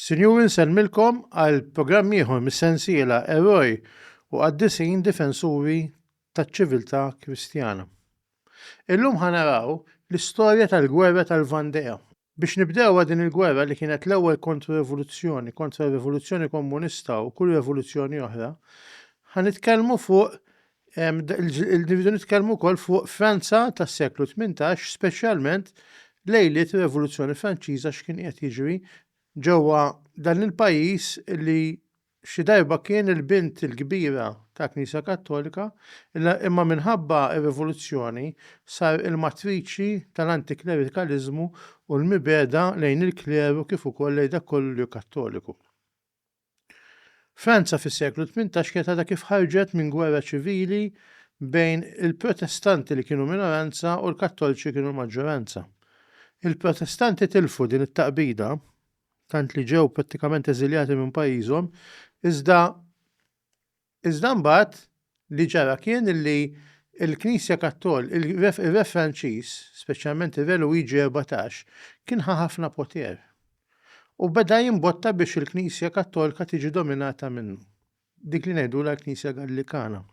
Sinjuri nsellmilkom għal programm ieħor mis-sensiela Eroj u Qaddisin Difensuri taċ-Ċiviltà Kristjana. Illum ħa naraw l-istorja tal-gwerra tal-Vandea. Biex nibdewha din il-gwerra li kienet l-ewwel kontro-revoluzzjoni kontra r-rivoluzzjoni kommunista u kull revoluzzjoni oħra, ħa nitkellmu fuq Irridu nitkellmu wkoll fuq Franza tas-seklu tmintax, speċjalment lejliet ir-Revoluzzjoni Franċiża x'kien qiegħed jiġri ġewwa dan il-pajjiż li Xi darba kien il-bint il-kbira tal-Knisja Kattolika, imma minħabba r-Rivoluzzjoni sar il-matriċi tal-antiklerikaliżmu u l-mibegħda lejn il-kleru kif ukoll lejn dak kollu li hu Kattoliku. Franza fis-seklu tmintax kienet għadha kif ħarġet minn gwerra ċivili bejn il-Protestanti li kienu minoranza u l-Kattolċi kienu l-maġġoranza. Il-Protestanti tilfu din it-taqbida tant li ġew prattikament eżiljati minn pajjiżhom, iżda iżda mbagħad li ġara kien li l-Knisja Kattol, ir-Re Franċiż, speċjalment ir-Re Luigi 14, kien ħa ħafna poter u beda jimbotta biex il-Knisja Kattolika tiġi dominata minnu, dik li ngħidulha l-Knisja Gallikana.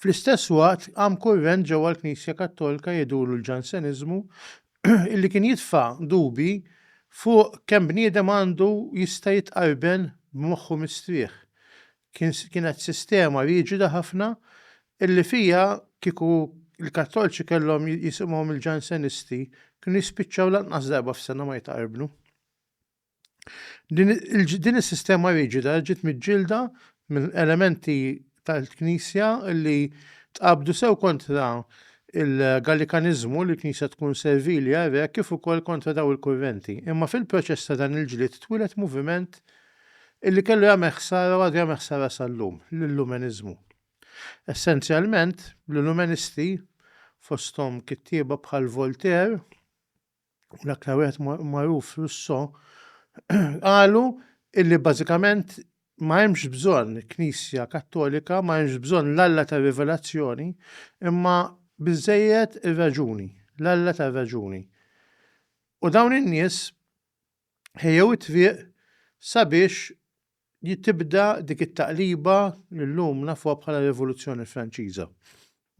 Fl-istess waqt, qam kurrent ġewwa l-Knisja Kattolika jidhurlu l-Ġanseniżmu illi kien jitfa' dubji fuq kemm bniedem għandu jista' jitqarben b'moħħu mistrieħ. Kien kienet sistema riġida ħafna illi fiha kieku l-Kattolċi kellhom jisimgħu mill-Ġansenisti kienu jispiċċaw lanqas darba f'sena ma jitqarbnu. Din is-sistema riġida ġiet miġġielda minn elementi tal-Knisja li tqabdu sew kontra il-Gallikaniżmu li l-Knisja tkun servili għar-Re kif ukoll kontra dawn il-kurrenti. Imma fil-proċess ta' dan il-ġlied twieled moviment li kellu jagħmel ħsara u għadu jagħmel ħsara sal-lum, l-Illumeniżmu. Essenzjalment, l-Illumenisti, fosthom kittieba bħal Voltaire, u l-aktar wieħed magħruf Russo qalu illi bażikament ma hemmx bżonn Knisja Kattolika, ma hemmx bżonn l-Alla tar-rivelazzjoni, imma biżżejjed ir-raġuni, l-Alla tar-raġuni. U dawn in-nies ħejjew it-triq sabiex li tibda dik it-taqliba li llum nafuha bħala Rivoluzzjoni Franċiża.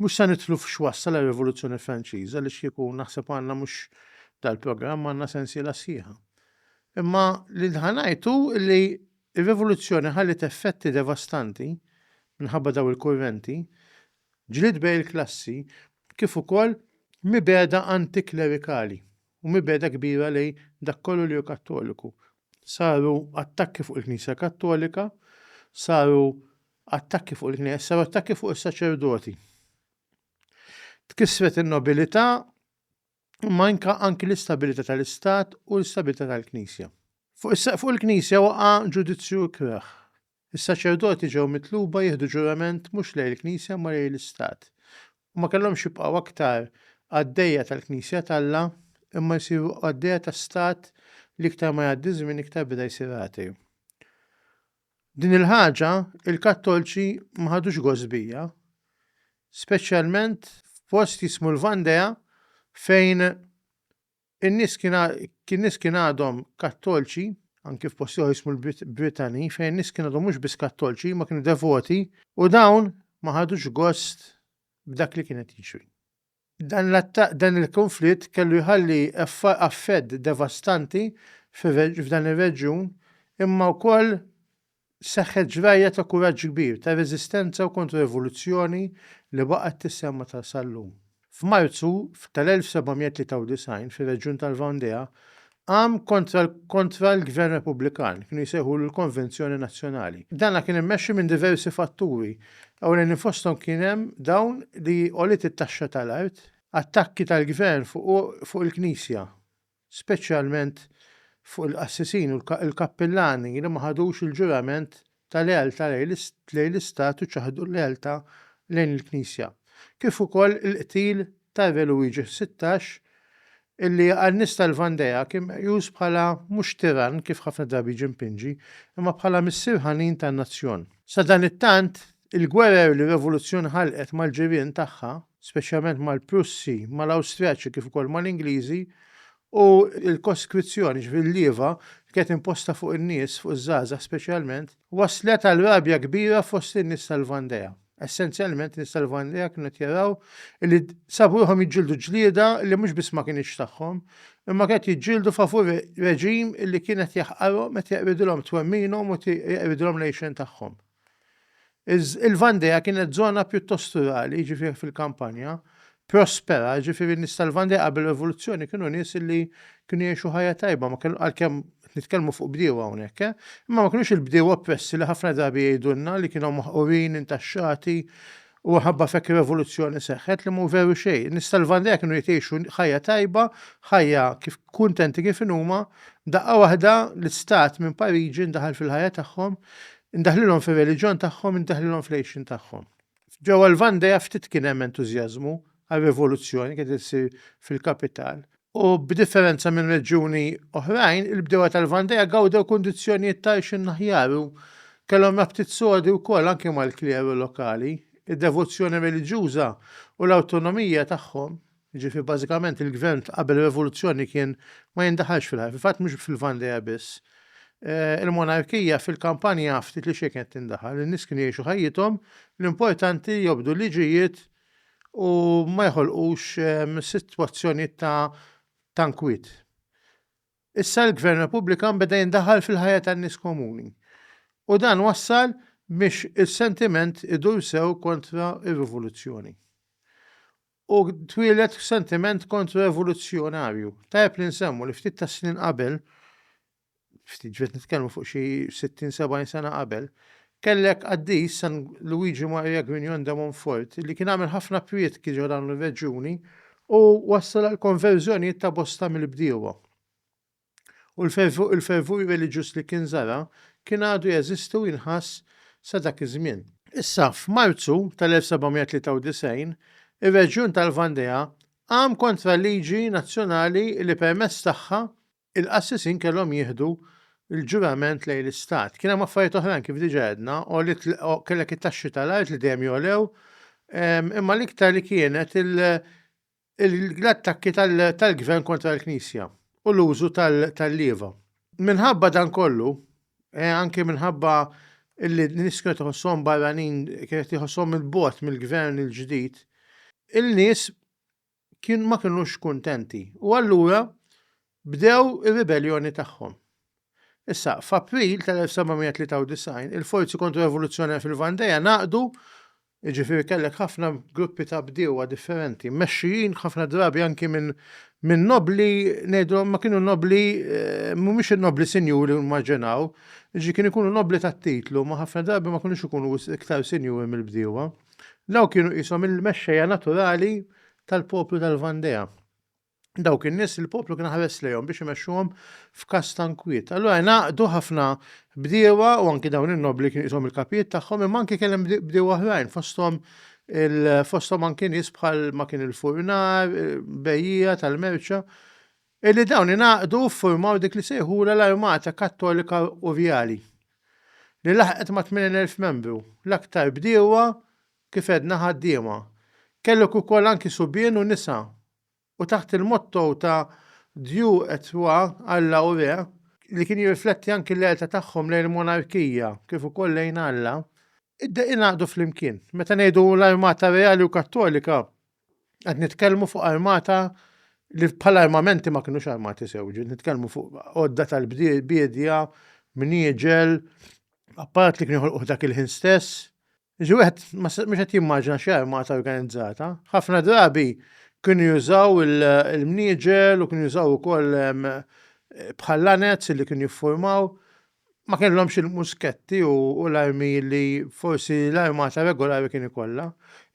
Mhux se nidħlu f'x'wassal ir-Rivoluzzjoni Franċiża għaliex kieku naħseb għandna mhux dal-programm għandna sensiela sħiħa. Imma li ħa ngħid hu li r-Rivoluzzjoni ħalliet effetti devastanti minħabba dawn il-kurrenti, ġlied bejn il-klassi kif ukoll mibegħda anti-klerikali. u mibegħda kbira lejn dak kollu li hu Kattoliku. Saru attakki fuq il-Knisja Kattolika, saru attakki fuq il-Knejjes, saru attakki fuq is-saċerdoti. Tkissret in-nobilità imma anke anki l-istabilità tal-Istat u l-istabilità tal-Knisja. Fuq is-saqf fuq il-Knisja waqa' ġudizzju ikrah. Is-saċerdoti ġew mitluba jieħdu ġurament mhux lejn il-Knisja imma lejn l-istat, u ma kellhomx jibqgħu aktar qaddejja tal-Knisja t'Alla imma jsiru qaddejja ta' stat li iktar ma jgħaddi ż-żmien iktar beda jsir agħti. Din il-ħaġa il-Kattolċi ma ħadux gost bija, speċjalment f'post jismu l-Vandea fejn In-nies kien nies kien għadhom Kattolċi, anki f'post ieħor jismu l-Brittany, fejn in-nies kien għadhom mhux biss Kattolċi imma kienu devoti u dawn ma ħadux gost b'dak li kien qed jiġri. Dan l-attakk dan il-kunflitt kellu jħalli affett devastanti f'dan ir-reġjun imma wkoll Seħħet ġrajja ta' kuraġġ kbir, ta' reżistenza u kontra-rivoluzzjoni li baqgħet tissemma ta' sal-lum. F'Marzu tal-1793, fir-reġjun tal-Vendea, qam kontra kontra l-Gvern Repubblikan, kienu jsejħulu l-Konvenzjoni Nazzjonali. Dana kien immexxi minn diversi fatturi, ewlenin fosthom kien hemm dawn li għoliet it-taxxa tal-art, attakki tal-Gvern fuq fuq il-Knisja, speċjalment fuq il-qassisin u l-kappillani li ma ħadux il-ġurament ta' lealtà lejn l-Istat u ċaħdu l-lealtà lejn il-Knisja, kif ukoll il-qtil ta' Re Luigi Sittax, illi għan-nies tal-Vandea kien meqjus bħala mhux tirann kif ħafna drabi jiġi mpinġi, imma bħala missier ħanin tan-nazzjon. Sadanittant, Il-gwerer li r-Revoluzzjoni ħalqet mal-ġirien tagħha, speċjalment mal-Prussi, mal-Awstrijaċi kif ukoll mal-Ingliżi, u l-koskrizzjoni, jiġifieri l-lieva, li kienet imposta fuq in-nies, fuq iż-żgħażagħ speċjalment, wasslet għal rabja kbira fost in-nies tal-Vandea. Essenzjalment, in-nies tal-Vandea kienu qed jaraw li sabu ruħhom jiġġieldu ġlieda li mhux biss ma kinitx tagħhom, imma kienet jiġġieldu favur reġim li kien qed jaħqarhom, qed jeqridilhom twemminhom u qed jeqridilhom l-għixien tagħhom. Il-Vandea kienet żona pjuttost rurali, jiġifieri fil-kampanja, prospera, jiġifieri n-nies tal-Vandea qabel ir-Rivoluzzjoni kienu nies li kienu jgħixu ħajja tajba, ma kienu għalkemm nitkellmu fuq bdiewa hawnhekk, eh? Imma ma kinux il-bdiewa oppressi li ħafna drabi jgħidulna li kienu maħqurin, intaxxati, Huwa ħabba f'hekk ir-revoluzzjoni seħħet li mhu veru xejn. Nies tal-Vandea kienu qed jgħixu ħajja tajba, ħajja kif kuntenti kif inhuma, daqqa waħda l-istat minn Pariġi ndaħal fil-ħajja tagħhom, indaħlilhom fir-reliġjon tagħhom, indaħlilhom fl-għixien tagħhom. Ġewwa l-Vandea ftit kien hemm entużjażmu għar-revoluzzjoni kienet issir fil-kapital. U b'differenza minn reġjuni oħrajn, il-bdiewa tal-Vandea gawdew kundizzjonijiet ta' għajxin aħjar u kellhom rabtiet sodi wkoll anke mal-kleru lokali. Id-devozzjoni reliġjuża u l-awtonomija tagħhom, jiġifieri bażikament il-gvern ta' qabel ir-Revoluzzjoni kien ma jindaħalx fil-ħajja, fil-fatt mhux fil-Vandea biss, il-monarkija fil-kampanja ftit li xejn kienet tindaħal, in-nies kienu jgħixu ħajjithom, l-importanti jobdu l-liġijiet u ma joħolqux sitwazzjonijiet ta' tankwit. Issa l-Gvern Repubblikan beda jindaħal fil-ħajja tan-nies komuni u dan wassal biex is-sentiment idur sew kontra r-rivoluzzjoni. U twieled sentiment kontra-rivoluzzjonarju. Tajjeb li nsemmu li ftit tas-snin qabel ftit ġiet nitkellmu fuq xi 60, 70 sena qabel, kellek qaddis San Luigi Maria Grignon de Montfort li kien għamel ħafna prietki ġo dawn ir-reġjuni u wassal għall-konverżjonijiet ta' bosta mill-bdiewa. U l-fervur reliġjuż li kien żara kien għadu jeżisti u jinħass sa dak iż-żmien. Issa, f'Marzu tal-1793, ir-reġjun tal-Vandea qam kontra liġi nazzjonali li permezz tagħha il-qassisin kellhom jieħdu l-ġurament lejn l-Istat. Kien hemm affarijiet oħrajn kif diġà għedna, għolit kellek it-taxxi tal-art li dejjem jogħlew, ehm, imma l-iktar li kienet l-attakki tal-gvern kontra l-Knisja u l-użu tal-lieva. Minħabba dan kollu, eh, anke minħabba illi n-nis kienet iħossom barranin, kienet iħossom il-bot mill-gvern il-ġdid, il-nis kien ma kinux kuntenti u allura bdew ir-ribelljoni tagħhom. Issa, f'April tal-1793, il-forzi kontro-revoluzzjonari fil-Vandea ngħaqdu, jiġifieri kellek ħafna gruppi ta' bdiewa differenti, mmexxijin ħafna drabi anki minn minn nobbli, ngħidulhom ma kienu nobbli, mhumiex in-nobbli sinjuri li nimmaġinaw, jiġifieri kienu jkunu nobbli tat-titlu, ma ħafna drabi ma kinux ikunu wisq iktar sinjuri mill-bdiewa. Dawn kienu qishom il-mexxejja naturali tal-poplu tal-Vandea. Dawk in-nies li l-poplu kien ħares lejhom biex imexxuhom f'każ ta' nkwiet. Allura ngħaqdu ħafna bdiewa u anki dawn in-nobbli kienu qishom il-kapijiet tagħhom imma anki kellhem bdiewa oħrajn fosthom fosthom anki nies bħal ma kien il-furnar, bejjiegħa tal-merċa. Illi dawn ingħaqdu u ffurmaw dik li sejħulha l-Armata Kattolika Urjali, li laħqet ma' 80,000 membru, l-aktar bdiewa, kif għedna ħaddiema. Kellok ukoll anki subien u nisa, u taħt il-motto ta' Dieu et Roi, Alla u Re, li kien jirrifletti anki l-għelta tagħhom lejn il-monarkija kif ukoll lejn Alla, Id-deqi ngħaqdu flimkien. Meta ngħidu l-armata reali u kattolika, qed nitkellmu fuq armata li bħala armamenti ma kinux armati sew, ġiet nitkellmu fuq għodda tal-bdiedja, mnieġel, apparat li kien joħolquh dak il-ħin stess. Ġi wieħed mhux qed jimmaġina xi armata organizzata. Ħafna drabi kienu jużaw il-mnieġel u kienu jużaw ukoll bħal lanez li kienu jiffurmaw ma kellhomx il-musketti u l-armi li forsi l-armata regolari kien ikollha.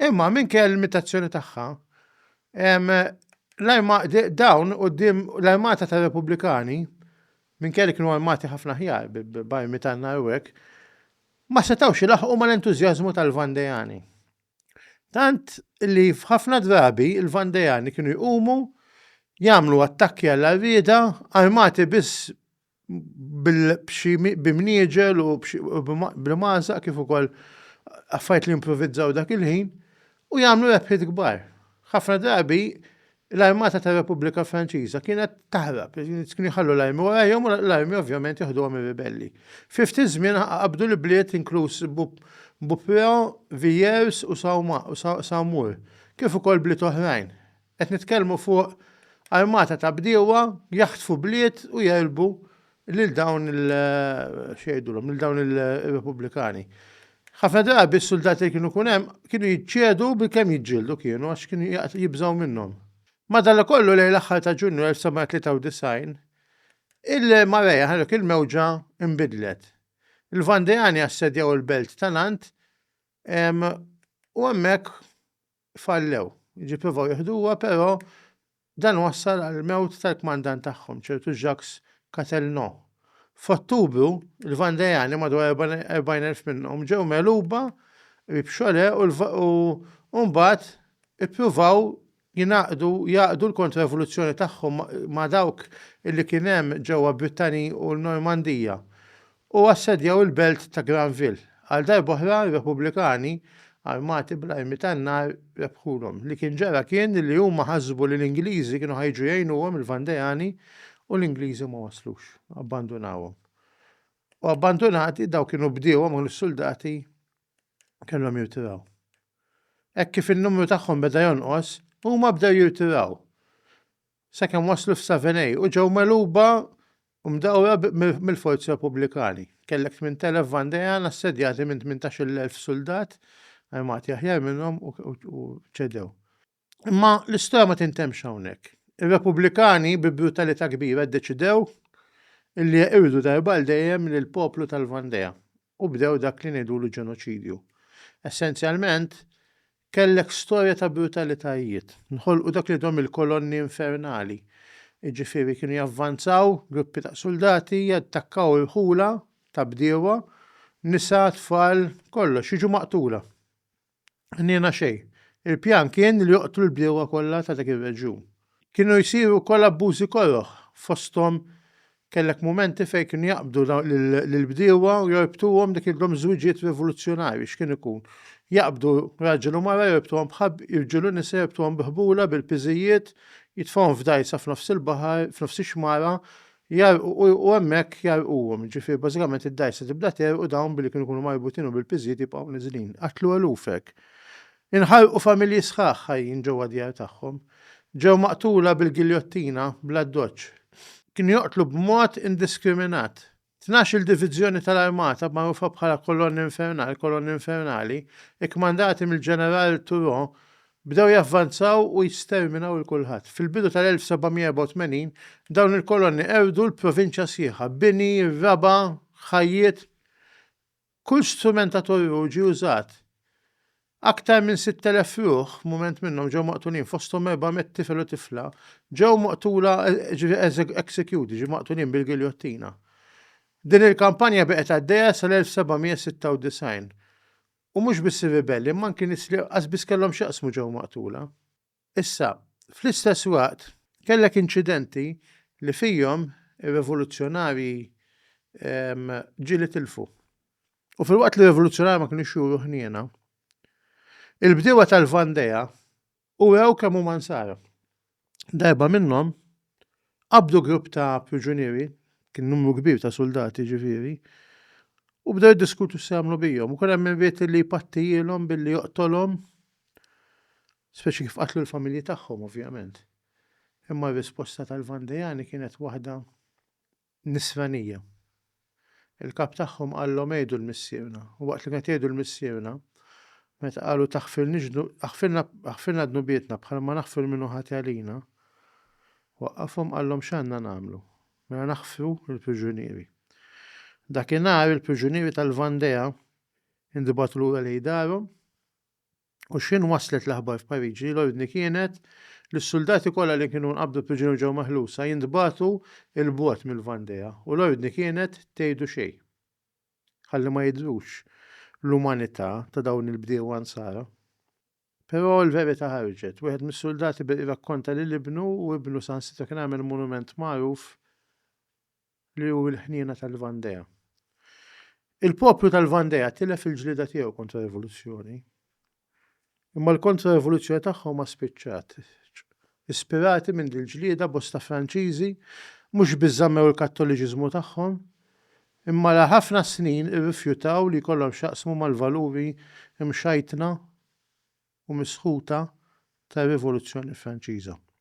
Imma minkejja l-limitazzjoni tagħha, dawn quddiem l-armata tar-Repubblikani, minkejja li kienu armati ħafna aħjar b'armi tan-nar u hekk, ma setgħux ilaħħqu mal-entużjażmu tal-Vandejani. Tant li f'ħafna drabi l-Vandejani kienu jqumu jagħmlu attakki għall-għarrieda armati biss b'imnieġel u bl-imgħażaq kif ukoll affarijiet li jimprovizzaw dak il-ħin u jagħmlu rebħiet kbar. Ħafna drabi l-armata tar-Repubblika Franċiża kienet taħrab, kienu jħallu l-armi warajhom u l-armi ovvjament jeħduhom ir-ribelli. Fi ftit żmien qabdu l-ibliet inkluż Beaupréau, Villers u Saumur, kif ukoll bliet oħrajn. Qed nitkellmu fuq armata ta' bdiewa jaħtfu bliet u jegħlbu lil dawn il x'jgħidulhom lil dawn ir-Repubblikani. Ħafna drabi s-suldati li kienu jkun hemm kienu jiċċedu bilkemm jiġġieldu kienu għax kienu jibżgħu minnhom. Madanakollu lejn l-aħħar ta' Ġunju 1993 il-marea ta' dik il-mewġa nbidlet. Il-Vandeani assedjaw il-belt ta' Nantes u hemmhekk fallew. Ġi provaw jiħduha però dan wassal għall-mewt tal-kmandant tagħhom, ċertu Jacques Catelnau. F'Ottubru, il-Vandejani, madwar 40,000 minnhom, ġew megħluba qrib Cholet u mbagħad ippruvaw jingħaqdu jgħaqqdu l-kontra-rivoluzzjoni tagħhom ma' dawk li kien hemm ġewwa Brittany u l-Normandija. u assedjaw il-belt ta' Granville. Għal darb'oħra r-Repubblikani, armati bl-armi tan-nar, rebħulhom. Li kien ġara kien li huma ħasbu li l-Ingliżi kienu ħa jiġu jgħinuhom il-Vandeani u l-Ingliżi ma waslux. Abbandunawhom. U abbandunati, dawk kienu bdiewa ma kinux suldati, kellhom jirtiraw. Hekk kif in-numru tagħhom beda jonqos, huma bdew jirtiraw. sakemm waslu f'Savenay u ġew megħluba u mdawra mill-forzi Repubblikani. Kellek 8,000 Vandean assedjati minn 18,000 suldat armati aħjar minnhom u ċedew. Imma l-istorja ma tintemmx hawnhekk. Ir-Repubblikani bi brutalità kbira ddeċidew li jeqirdu darba għal dejjem lill-poplu tal-Vandea u bdew dak li ngħidulu ġenoċidju. Essenzjalment, Kellek storja ta' brutalitajiet. Nħolqu dak li dhom il-kolonni infernali. Jiġifieri kienu javvanzaw gruppi ta' suldati, jattakkaw irħula ta' bdiewa, nisa, tfal, kollox, jiġu maqtula. Ħniena xejn. Il-pjan kien li joqtlu l-bdiewa kollha ta' dak ir-reġjun. Kienu jsiru wkoll abbużi koroh, fosthom kellek mumenti fejn kienu jaqbdu lill-bdiewa u jorbtuhom dik il-dom żwiġiet rivoluzzjonarji x'kien ikun. Jaqbdu raġel u mara jorbtuhom bħabl, irġiel u nisa jorbtuhom bi ħbula, bil-piżijiet, jitfgħuhom f'dgħajsa f'nofs il-baħar, f'nofs ix-xmara, jgħarrqu u u hemmhekk jgħarrquhom, jiġifieri bażikament id-dgħajsa tibda tegħrq u dawn billi kienu jkunu marbutin u bil-piżijiet jibqgħu niżlin. Qatlu eluf hekk. Inħarqu familji sħaħ ħajjin ġewwa d-djar tagħhom. Ġew maqtula bil-giljottina bl-addoċċ. Kienu joqtlu b'mod indiskriminat. Tnax-il diviżjoni tal-armata, magħrufa bħala Colonne Infernale, Kolonni Infernali, ikkmandati mill-Ġeneral Turreau, bdew javvanzaw u jisterminaw 'il kulħadd. Fil-bidu tal-1784, dawn il-kolonni qerdu l-provinċja sħiħa, bini, raba', ħajjiet, Kull strument ta' torrur ġie użat. Aktar minn 6,000 ruħ, mument minnhom ġew maqtulin fosthom 400 tifel u tifla, ġew maqtula executed, jiġifieri maqtulin bil-giljottina. Din il-kampanja baqgħet għaddejja sal-1796. U mhux biss ir-ribelli, imma anki nies li qas biss kellhom x'jaqsmu ġew maqtula. Issa, fl-istess waqt, kellek inċidenti li fihom ir-revoluzzjonarji ġieli tilfu. U filwaqt li r-revoluzzjonarji ma kinux juru ħniena, il-bdiewa tal-Vandea urew kemm huma nsara. Darba minnhom Qabdu grupp ta' priġunieri, kien numru kbir ta' suldati ġifieri, u bdew jiddiskutu x'se jagħmlu bihom. U kien hemm min ried li jpattijilhom billi joqtolhom, speċi kif qatlu l-familji tagħhom ovvjament. Imma r-risposta tal-Vandejani kienet waħda nisranija. Il-kap tagħhom qallhom għidu l-missierna, u waqt li kien qed jgħidu l-missierna, meta qalu taħfirniex aħfirna aħfirna dnubietna bħal ma naħfru min hu ħati għalina, waqqafhom qallhom x'għandna nagħmlu, mela naħfru l-priġunieri. Dakinhar il-priġunieri tal-Vandea intbagħtu lura lejn darhom. U x'ħin waslet l-aħbar f'Pariġi, l-ordni kienet li s-suldati kollha li kienu nqabdu priġunier ġew meħlusa jintbagħtu 'l bogħod mill-Vandea, u l-ordni kienet tgħidu xejn. Ħalli ma jidhrux l-umanità ta' dawn il-bdiewa nsara. Però l-verità ħarġet. Wieħed mis-suldati beda jirrakkonta lil ibnu u ibnu saħansitra kien għamel monument magħruf li hu l-ħniena tal-Vandea. Il-poplu tal-Vandea tilef il-ġlieda tiegħu kontra rivoluzzjoni. Imma l-kontra-rivoluzzjoni tagħhom ma spiċċat. Ispirati minn dil-ġlieda bosta Franċiżi mhux biss żammew il-Kattoliċiżmu tagħhom, imma la ħafna snin irrifjutaw li jkollhom x'jaqsmu mal-valuri mxajtna u misħuta tar-Rivoluzzjoni Franċiża.